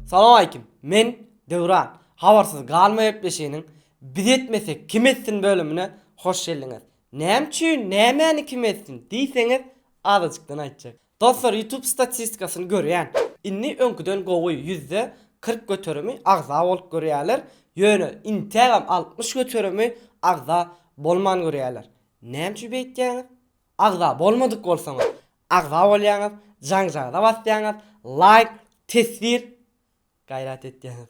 Salam aleýkim. Men Döwran. Habarsyz galma gepleşiginiň Biz etmesek kim etsin bölümine hoş geldiňiz. Näme üçin nämäni kim etsin diýseňiz azajykdan aýtjak. Dostlar YouTube statistikasyny görýän. Indi öňküden gowy ýüzde kyrk göterimi agza bolup görýäler, ýöne intägem altmyş göterimi agza bolman görýäler. Näme üçin beýtýäňiz? Agza bolmadyk bolsaňyz agza bolýaňyz, jaňjagyza basýaňyz, laýk, teswir gaýrat etýäňiz.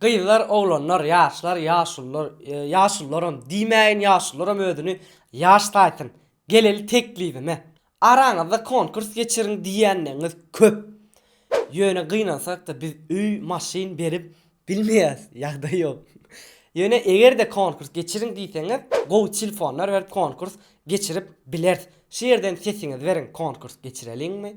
Gyzlar, oglanlar, ýaşlar, ýaşulular, ýaşulularam diýmäýin, ýaşulularam özüni ýaş saýsyn. Geleli teklibime. Araňyzda konkurs geçiriň diýýänleňňiz köp. Ýöne gynansak-da biz öý, maşyn berip bilmeýäs, ýagdaý ýok. Ýöne eger-de konkurs geçiriň diýseňiz, gowy tilfonlar berip konkurs geçirip bileris. Şu ýerden sesiňizi beriň, konkurs geçireliňmi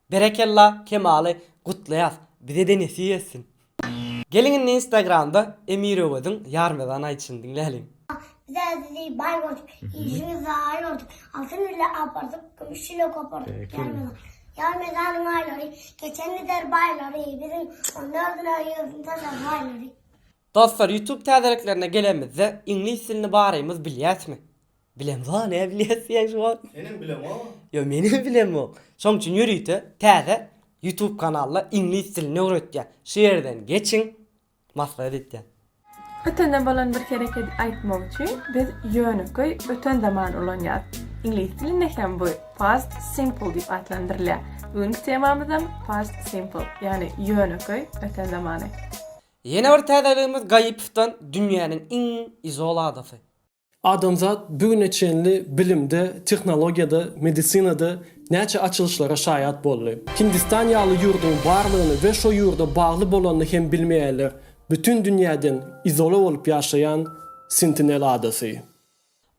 Berekella Kemaly gutlaýas bizede nesip etsin. Geliň indi instagramda Emir Öweziň Ýarmezan aýdyşyny diňläliň. Biz sizi baý gördük, işiňizi rawa gördük, altyn bile apardyk, kümüş çile gopardyk, Ýarmezan. Ýarmezanyň aýlary, geçen gider baýlary, biziň on dördüne ýüzüni sanar baýlary. Dostlar YouTube täzeliklerine gelenimizde iňlis dilini barymyz bilýäsmi? Bilemzoo ne bilýäs diýýän şu wagt. Senem bilemok. Ýok menem bilemok. Şoň üçin ýörite täze YouTube kanalda iňlis dilini öwretýän. Şu ýerden geçiň maslahat etýän. Ötende bolan bir herekedi aýtmak üçin biz ýönekeý öten zaman ulanýas. Iňlis dilinde hem bu past simple diýip atlandyrylýar. Bu günki temamyzam past simple, ýagny ýönekeý öten zamany. Ýene bir täzeligimiz Gaýypowdan dünýäniň iň izol adasy. Adamzat bu güne çenli bilimde, tehnologiýada, medisinada näçe açylyşlara şaýat boldy. Hindistan ýaly ýurduň barlygyny we şo ýurda bagly bolanyny hem bilmeýärler, bütin dünýäden izola bolup ýaşaýan Sentinel adasy.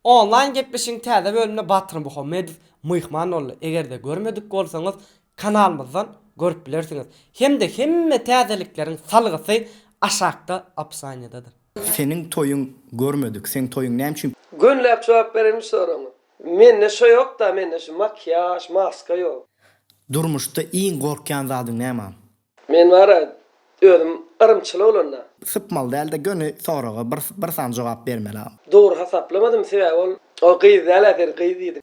Onlaýn gepleşigiň täze bölümine Batyr Muhammedow myhman boldy. Eger-de görmedik bolsaňyz, kanalymyzdan görüp bilersiňiz hemde hemme täzelikleriň salgysy aşakda opisaniýadadyr. Seniň toýuň görmedik seň toýuň näme üçin. Gönläp jogap berelim soragyňa. Mende şo ýokda mende şu makiýaž maska ýok. Durmuşda iň gorkýan zadyň näme. Men bara özüm yrymçyl bolanda. Sypmaly dälde göni soraga bir bir sany jogap bermeli. Dogry hasaplamazym sebäbi ol gyz däl äseri gyz diýdim.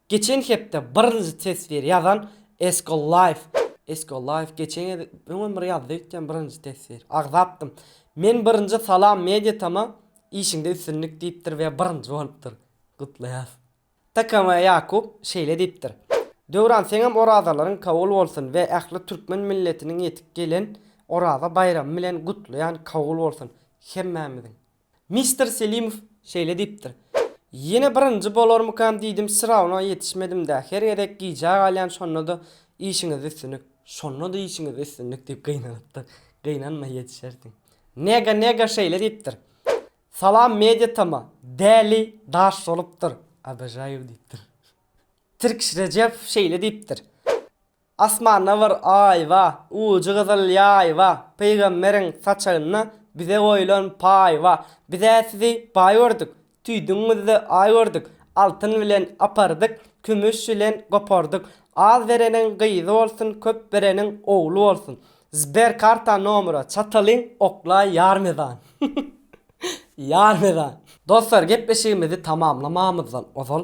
Geçen hepde birinji teswir ýazan Esko Life Esko Life geçen gez öňem bir ýazdy öýtýän birinji teswir. Agzapdym. Men birinji Salam Media Tama işiňde üstünlik diýipdir we birinji bolupdyr. Gutlaýas. Tkma Ýakup şeýle diýipdir. Döwran seňem orazalaryň kabul bolsun we ähli türkmen milletiniň ýetip gelen Oraza baýramy bilen gutlaýan kabul bolsun hemmämiziň. Mister Selimow şeýle diýipdir, Ýene birinji bolarmykam diýdim, syrawna ýetişmedim-dä, her gezek gijä galýan şonda-da işiňizde üstünlik, şonda-da işiňizde üstünlik diýip gynanypdyr, gynanma ýetişersiň. Nega Nega şeýle diýipdir, Salam media tama, däli daş bolupdyr, obojayou diýipdir. Tirkiş Rejebow şeýle diýipdir. Asmanda bir Aý ba, Ujy gyzyl ýaý ba, Pygamberiň saçagynda Bize goýlan paý ba. Biz-ä sizi baý gördük, Tüýdügiňizde Aý gördük. Altyn bilen apardyk, Kümüş bilen gopardyk. Az bereniň gyzy bolsun, Köp bereniň ogly bolsun. Sber karta nomera çatalyň oklaý ýar mezan. Ýar mezan. Dostlar gepleşigimizi tamamlamamyzdan ozal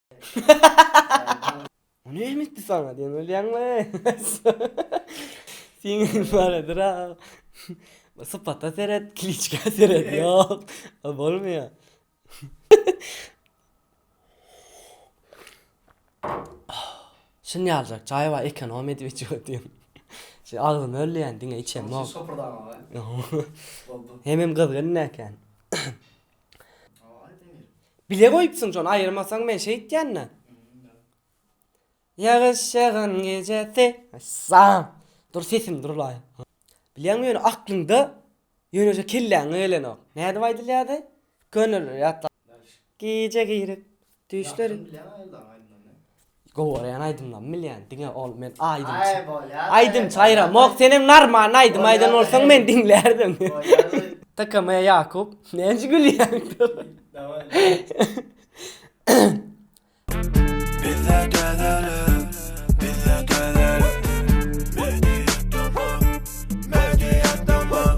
O näme etdi saňa diýen bolýaňmy? Siňin baradyr ha. Sypata seret, kiliçka seret. Ýok, o bolmaýar. Şun ýaljak çaý bar, ekonom edip içip otyryn. Şeý agzymy öllýän, diňe içemok. Şopurdama be. Hemem gyzgyn näken. Bile goýupsyň şony aýyrmasaň men şeýtýända. Ýagyş ýagan gejesi. Sam. Dur sesim durlaý. Bilýäňmi ýöne aklyňda ýöneje kelläňe gelenok. Nädip aýdylýardy? Köneler ýatla. Gije girip Düýşler Gowarýan aýdymlarymy bilýän diňe ol men aýdymçy. Aýdymçy aýramok senem narmal aýdym aýdan bolsaň men diňlärdim. TKM Ýakup näce gülýäň. Bizde dönelim bizde dönelim Media tamam media tamam.